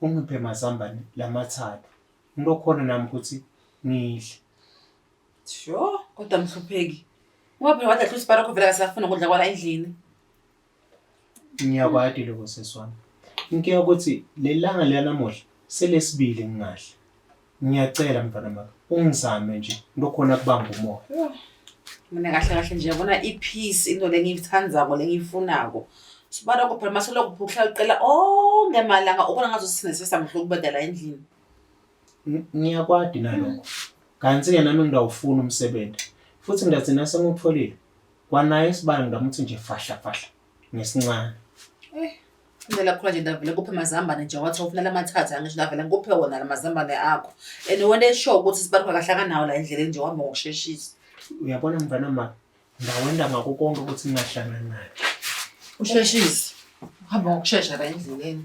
Ungiphe mazambane lamathathu. Uma khona nami ukuthi ngidle. Sho, kodwa mhlupheki. Ngoba phela wadla hlusi barakho vele akasafuna ukudla kwala endlini. Ngiyakwati lokho seswami. Inkinga ukuthi lelanga lanamuhla selesibili ngingahle. Ngiyacela mfana maka, ungizame nje ngilokhona kubamba umoya. Mina kahle kahle nje yabona i-peace into lengiyithandako lengiyifunako. Sibaloko phela masoloko phukla uqela onke malanga ubona ngazo sithina sesamhlo kubadala endlini. Ng- Ngiyakwadi nalokho. Kanti-ke nami ngidawufuna umsebenzi. Futhi ngigcina sengutholile. Kwanaye isibalo ngidamuthi nje fahla fahla. ngesincane Eh, indlela khona nje ndavele kuphe amazambane nje wathi ufuna lamathatha angisho ndavele ngikuphe wona lamazambane akho and wena eshow ukuthi sibaluka kahle akanawo la endleleni nje wahamba ngokusheshisa uyabona mfana ma ndawenda ngako konke ukuthi ningahlangani naye usheshise uhamba ngokushesha la endleleni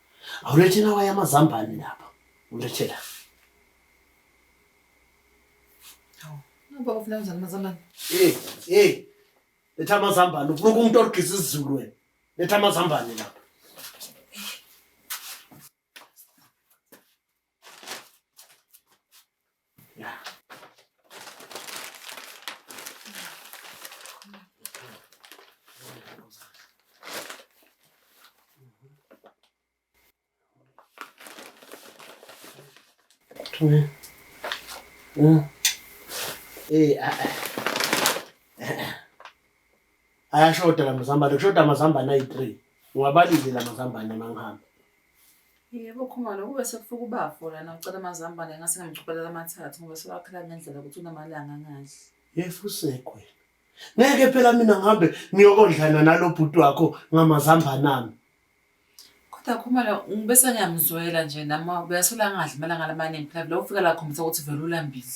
Awulethe nawe amazambane lapha. Ulethe la. Ngoba ufuna kanjani amazambane? Eh, eh. Letha amazambane. Ufuna umuntu ogqiza isizulu wena. Letha amazambane lapha. Tume. Yeah. Eh, ah, ah. ayashoda la mazambane kushoda amazambane ayi-three ngiwabalile la mazambane uma ngihamba Yebo Khumalo, kube sekufika ubafo lana ucela amazambane ngase ngamchubelela amathathu ngoba sewakhala ngendlela ukuthi unamalanga angadli. Yesu usekwe. Ngeke phela mina ngihambe ngiyokondlana nalo bhuti wakho ngamazambane ami. Kodwa Khumalo ngibese ngiyamzwela nje nami uyasola angadli malanga lamaningi phela vele ufika la khombisa ukuthi vele ulambile.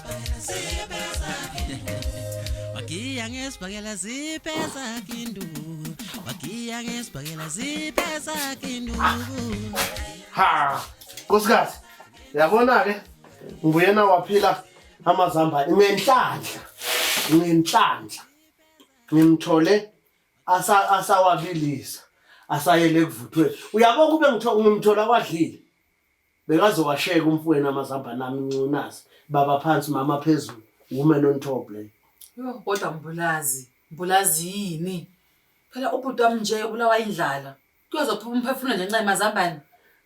wagiya ngesibhakela ziphe zakhe induku wagiya ngesibhakela ziphe zakhe induku ha nkosikazi yabona-ke nguyena waphila amazamba ngenhlanhla ngenhlanhla ngimthole asawabilisa asayele kuvuthweni uyabo kube ngimthola kwadlile Bekazowasheka umfwenu amazambane ami ncunazi. Baba phansi mama phezulu. Woman on top leyo. Yho kodwa Mbulazi, Mbulazi yini? Phela ubhuti wami nje ubulawa indlala. Kuyozophuma umphefumulo nje nxa emazambane.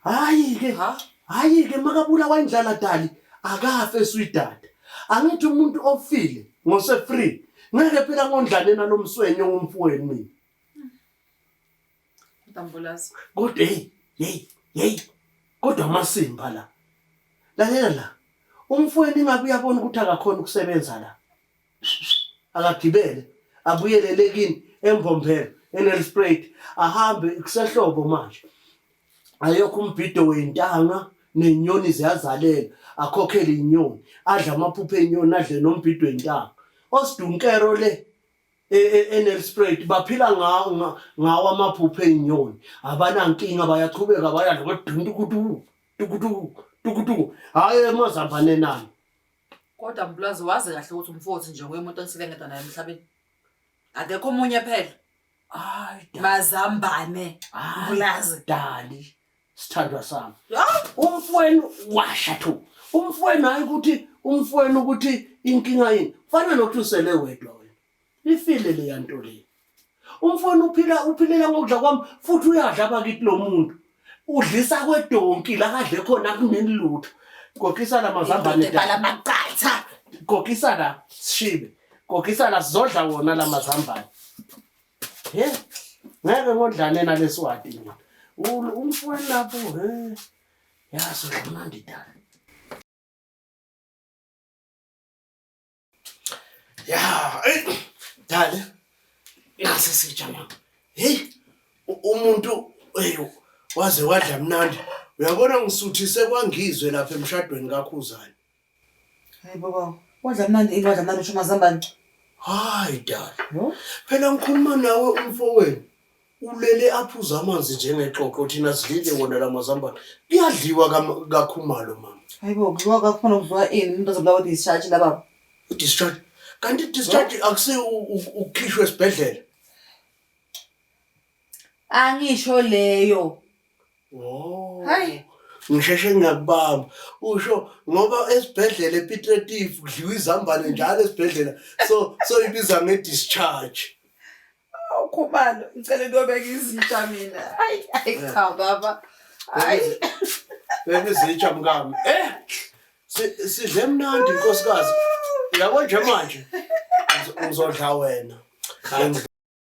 Hayi ke. Ha? Hayi ke makabulawa indlala dali akafe swidada. Angithi umuntu ofile ngose free. Ngeke phela ngondlane nalomswenyo ngomfweni mina. Dambulazi. Kodwa hey, hey, hey. Kodwa amasimba la. Lalela la. Umfowenu ingabe uyabona ukuthi akakhona ukusebenza la. Akagibele, abuyelele kini embomphela, enel spray. Ahambe kusehlobo manje. Ayokho umbhido wentanga nenyoni ziyazalela, akhokhele inyoni, adla amaphupho enyoni, adle nombhido wentanga. Osidunkero le e, e, eNelspruit baphila ngawo ngawo amaphupho ezinyoni abanankinga bayaqhubeka bayadla koduntu kudu tukutu tukutu hayi emazambane nani kodwa mpulazi wazi kahle ukuthi umfowethu nje nguye umuntu onisike ngedwa naye emhlabeni akekho omunye phela mazambane mpulazi dali sithandwa sami umfweni washa thu umfweni hayi ukuthi umfweni ukuthi inkinga yini kufana nokuthi usele wedwa wena ifile le yanto le umfweni uphila uphilela ngokudla kwami futhi uyadla abakithi lo muntu udlisa kwedonki la kadle khona kunini lutho gogisa la mazambane bhala amaqatha gogisa la sishibe gogisa la sizodla wona la mazambane He? Ngeke ngodlane nalesiwati mina. Umfowenu lapho he. Yazi udlamandi dala. Ya, eh, dala. Ngase sitsha mama. Hey, umuntu hey waze wadla mnandi. Uyabona ngisuthise kwangizwe lapha emshadweni kakhuzani. Hayi baba, wadla mnandi ini wadla mnandi usho mazambane. Hayi dala. No? Phela ngikhuluma nawe umfowenu. Ulele aphuza amanzi njengexoxo thina sidlile wona la mazambane. Kuyadliwa kam- kakhumalo mama. Hayi bo, kudliwa kakhona kudliwa ini umuntu azobulawa discharge la baba. Discharge. Kanti discharge akusi u- u- ukukhishwa esibhedlela. angisho leyo oh hayi ngisheshe ngakubamba usho ngoba esibhedlela ePitretif kudliwa izambane njalo esibhedlela so so ibiza nge discharge awukhumalo ngicela ukubeka izinja mina hayi hayi cha baba hayi beka izinja mkami eh sidle mnandi inkosikazi yabo nje manje ngizodla wena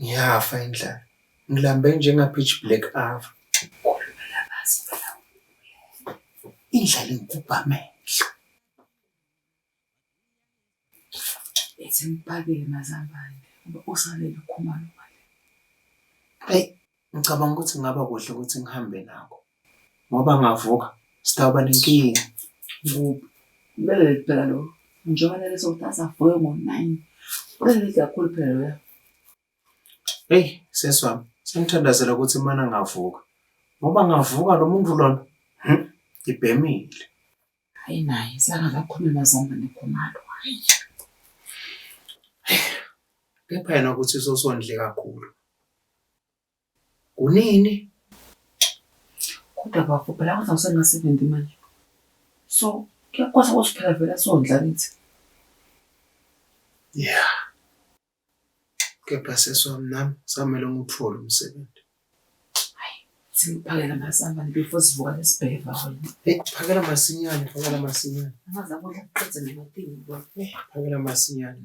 Ngiyafa indlala. Ngilambe njenga-pitch black ava. Khulumela kazi phela indlala ingubha amehlo. Ethi ngipakele mazambane ngoba usalele ukhumalo ngale. Eyi Ngicabanga ukuthi kungaba kuhle ukuthi ngihambe nako ngoba ngavuka sitawuba nenkinga. Ngoba kumele phela lo njengoba nalesi sokuthi asavuke ngo-nine ulele kakhulu phela loya. Eyi sesi wami sengithandazela ukuthi imana ngavuka ngoba ngavuka lo muntu lona ibhemile. Hayi naye sangakakhulumi mazamba nekhumalo. Hayi. Kepha yena ukuthi sosondle kakhulu. Kunini? Kodwa bafo phela kodwa usengasebenzi manje. So kuyakwazi ukuthi phela vele asondla kithi. Yeah. kepha sesi wami nami samele ngiwuthole umsebenzi Siphakela masambane before sivuka nesibheva wena. Hey, phakela masinyane, phakela masinyane. Angaza kudla kuqedze namatingi kwakho. Phakela masinyane.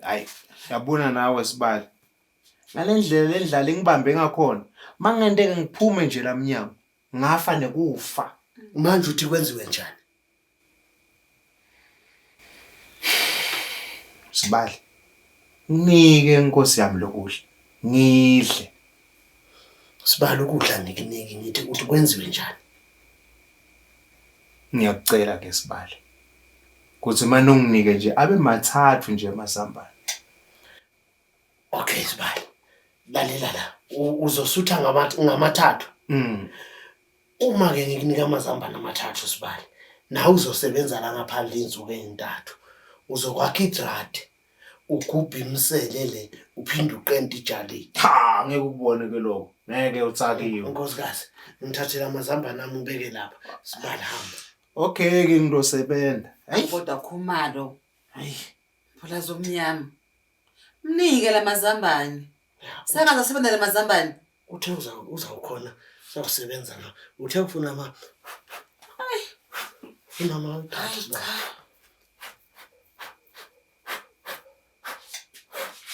hayi yabona nawe sibali ngale ndlela le ndlala ingibambe ngakhona uma kungenteke ngiphume nje la mnyango ngafa nekufa manje uthi kwenziwe njani sibali nginike inkosi yami lokudla ngidle sibali ukudla ngikunike ngithi uthi kwenziwe njani ngiyakucela ke sibali Kuthi uma nonginike nje abe mathathu nje amazambane. Okay sibali. Lalela la. Uzosutha ngamathathu. Mm. Uma ke ngikunika amazambane amathathu sibali. Nawe uzosebenza la ngaphandle insuku ezintathu. Uzokwakha idrade. Ugubhe imisele le uphinde uqente ijali. Cha ngeke ukubone ke lokho. Ngeke utsakiwe. Nkosikazi ngithathela amazambane ami ubeke lapha. Sibali hamba. Okay ke ngizosebenza. Hayi kodwa khumalo. Hayi. Phula zomnyama. Mnike lamazambane. Saka zasebenza lamazambane. Uthe uza uza ukhona sakusebenza la. Uthe ufuna ama Hayi. Imama uthathe la.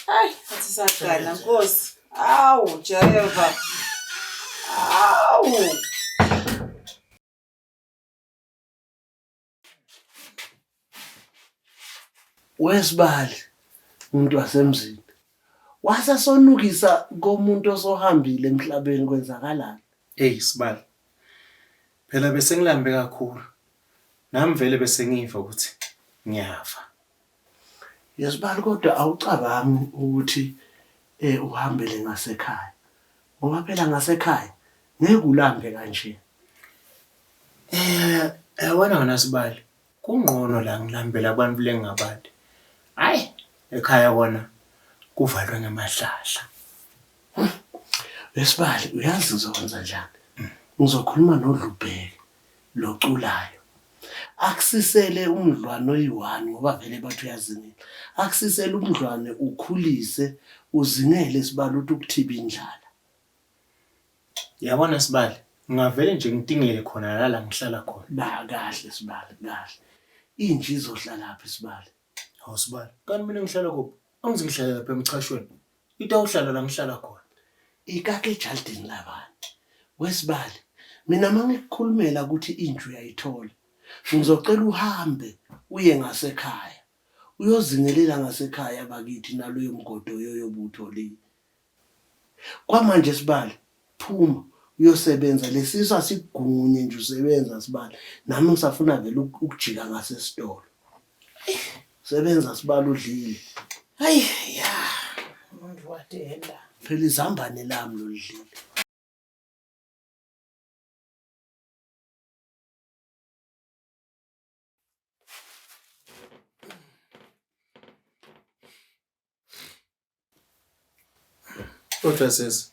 Hayi, athi sagana Nkosi. Awu Jehova. Awu. wesibali umuntu wasemzini wase sonukisa komuntu osohambile emhlabeni kwenzakalani hey sibali phela bese ngilambe kakhulu nami vele bese ngiva ukuthi ngiyafa Yesibali kodwa awucabangi ukuthi eh uhambele ngasekhaya. Ngoba phela ngasekhaya ngeke ulambe kanje. Eh yabona eh, wena sibali kungqono la ngilambela abantu lengabadi. Hayi ekhaya kona kuvalwe ngemahlahla. Wesibali uyazi uzokwenza njani? Ngizokhuluma nodlubheke. noculayo akusisele umdlwane oyi-one ngoba vele bathi uyazingela akusisele umdlwane ukhulise uzingele sibali ukuthi ukuthiba indlala yabona sibali ngingavele nje ngitingele khona lala ngihlala khona ba kahle sibali kahle inje izohlalaphi sibali hawu sibali kanti mina ngihlala kuphi angizi ngihlala lapha emchashweni Itawuhlala la ngihlala khona. Ikake ejaldini labanye. Wesibali, mina uma ngikukhulumela ukuthi inja uyayithola, ngizocela uhambe uye ngasekhaya. Uyozingelela ngasekhaya bakithi naloyo mgodi oyoyo obuwutholile. Kwamanje Sibali, phuma uyosebenza. Lesisu asikugunye nje usebenza Sibali. Nami ngisafuna vele ukujika ngasesitolo. Sebenza sibala udlile. Hayi ya. Umuntu wadenda. Phela izambane lami lolidlile. Kodwa sesi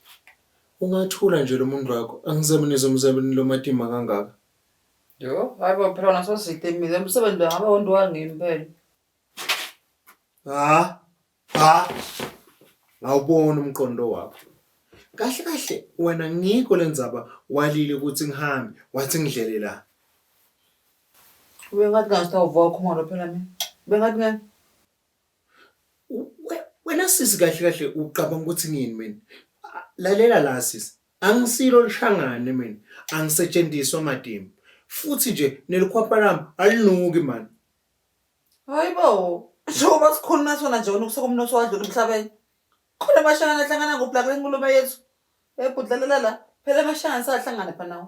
ungathula nje lo muntu wakho angisebenzi umsebenzi lo matima kangaka. Yo, hayi bo phela wona sositemile umsebenzi wangaba wonto wangimi phela. Ha ha ngawubona umqondo wakho. Kahle kahle wena ngikho lenzaba walile ukuthi ngihambe wathi ngidlele la. Ubengathi ngathi awuva ukhumalo phela mina. Ubengathi ngeke. Wena sisi kahle kahle ucabanga ukuthi ngiyini mina? Lalela la sisi, angisilo lishangane mina, angisetshenziswa matimba. Futhi nje nelikhwapha lami alinuki mani. Hayibo, njengoba sikhuluma sona nje unukusa komnotho wadlula emhlabeni. Khona amashangana ahlangana ngobulaka lengulube yethu. Ebhudlalela la, phela amashangana sahlangana phela nawo.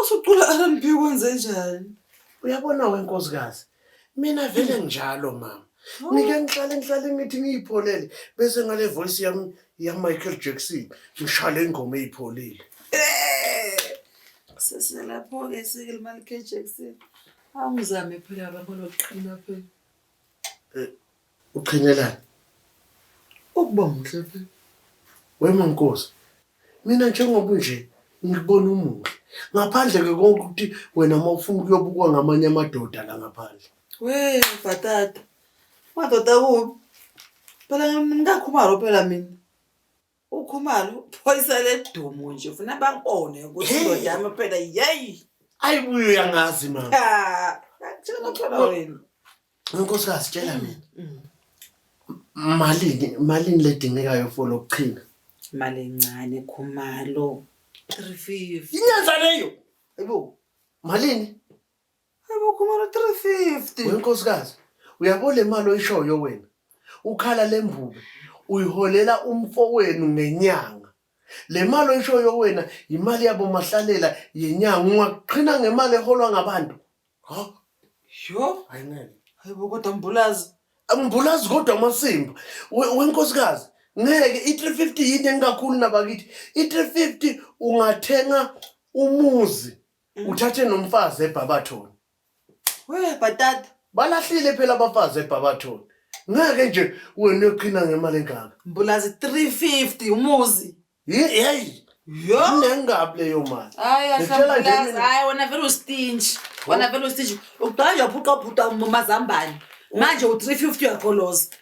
Usucula RNB kwenze njani? Uyabona wenkosikazi, mina vele njalo mama. Oh. Ngike ngihlale ngihlale ngithi ngiyipholele bese ngale voice yami ya Michael Jackson ngishale ingoma eyipholile. Eh! Sese lapho ke sike Michael Jackson. Awungizame phela baba lokuqina phela. Eh, Uqhinelani? Ukuba muhle phela. Wema Nkosi. Mina njengoba nje ngikubona umuhle. Ngaphandle ke konke ukuthi wena uma ufuna ukuyobukwa ngamanye amadoda la ngaphandle. We bhatata. Madoda kubi. Phela ngikakhumalo phela mina. Ukhumalo phoyisa ledumo nje ufuna bakubone ukuthi indoda yami phela yeyi. Ayibuye uyangazi mama. Cha. Ngitshela ngithola wena. Unkosikazi tshela mm, mina. Mm. Malini malini ledingekayo for lokuchina? Imali encane khumalo. 350. Inyanza leyo. Hayibo. Malini? Hayibo khumalo 350. Wenkosikazi uyabo le mali oyishoyo wena. Ukhala lembube uyiholela umfowenu ngenyanga. Le mali oyishoyo wena yimali yabo mahlalela yenyanga ungaqhina ngemali eholwa ngabantu. Ha? Yho, Ayinene. hayibo kodwa mbulazi. Angibulazi kodwa amasimba. We- Wenkosikazi, ngeke i-350 yini engakhulu nabakithi. I-350 ungathenga umuzi uthathe nomfazi eBhabathoni. we bhatata balahlile phela abafazi ebhabathoni ngeke nje wena uyoqhina ngemali engaka mbulazi 350 umuzi yeyi yo nengabi leyo mali hayi ahlambulazi hayi wena vele ustinji wena vele ustinji uqala nje uphuqa ubhuta umazambane manje u-350 uyagoloza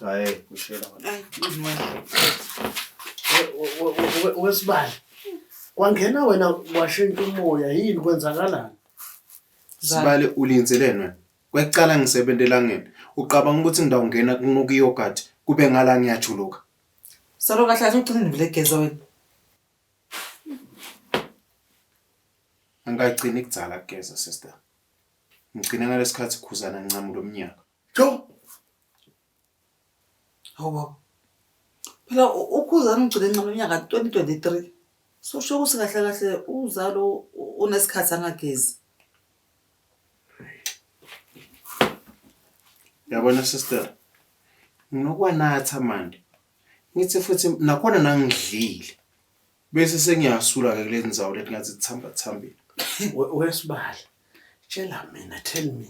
Hayi, kushela wena. Hayi, nqini wena. We- we- we- we- we- Wesibali. Kwangena wena washintsha umoya yini kwenzakalani? Sibale ulinzeleni wena. Kwecala ngisebenza elangeni. Uqabanga ukuthi ngidawungena kunuka yogurt kube ngala ngiyajuluka. Salo kahle kahle ugcine nivile geza wena. Angigcini kudzala kugeza sister. Ngigcine ngalesikhathi khuzana ngincamula umnyaka. Tjo! Hawu baba. Phela u- ukhuzani ugcine ncono unyaka 2023. Susho ukuthi kahle kahle uzalo u- unesikhathi angagezi. Yabona sister. Nginokwanatha manje. Ngithi futhi nakhona nangidlile. Bese sengiyasula ke kulezi nzawo leti ngathi zithamba thambile. Wesibala. Tshela mina tell me.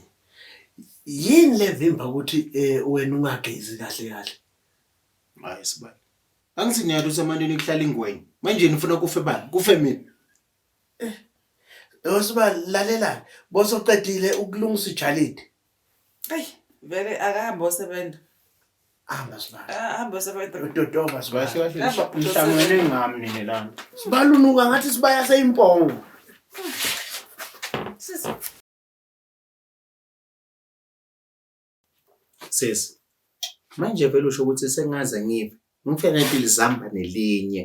Yini levimba ukuthi eh, wena ungagezi kahle kahle? Hayi sibala. Angithi niyalo ukuthi amanini kuhlala ingwenya. Manje nifuna kufe bani? Kufe mina. Wesibala lalela. Bosoqedile ukulungisa ijalidi. Eyi vele akahambe osebenza. Hamba sibala. Ah, Hambe osebenza. Udodova sibala. Kahle kahle Hamba, nisha- nihlangene ngami nini lana. Sibala unuka ngathi sibaya seyimpongo. Sisi. Sisi. Manje vele usho ukuthi sengaze ngife. Ngifela impilo zihamba nelinye.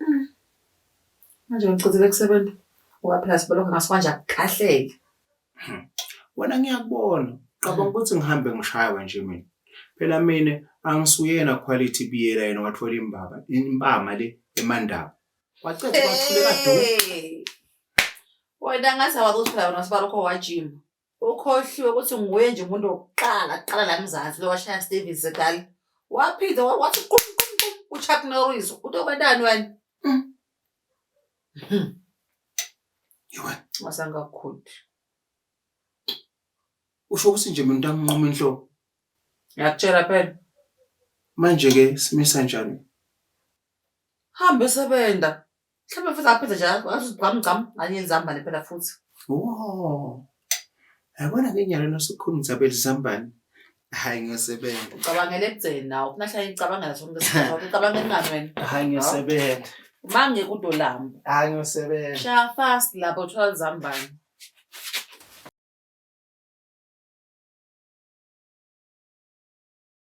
Mm. Manje ngicizile kusebenza ngoba phela sibelokhu ngasikwanje akukahleki. Hmm. Wena ngiyakubona qabanga ukuthi ngihambe ngishayiwe nje mina. Phela mina angisuyena quality biyela yena wathola imbaba impama le emandaba. Wacetha wathuleka do. Wena ngathi awakuthola wena sibalokho wajima. Ukhohliwe ukuthi nguye nje umuntu wokuqala kuqala la Mzansi lo washaya Stevens eqala. Waphinde wa- wathi qum qum qum uChuck Norris utokwendani wena? Yiwe. Masangakhudi. Usho ukuthi nje mina ntamnqoma inhloko. Ngiyakutshela phela. Manje ke simisa njani? Hambe sebenza. Mhlawumbe futhi aphethe nje athi gqam gqam anye nizambane phela futhi. Wo. Yabona ke nyalo nosukhulumisa belizambane. Hayi ngiyosebenza. Ucabangela ekugcini nawo. Kunahla icabangela sonke isikhathi. wakho. Ucabangela ingani wena? Hayi ngiyosebenza. Mange kudolamba. Hayi ngiyosebenza. Shaya fast lapho thola izambane.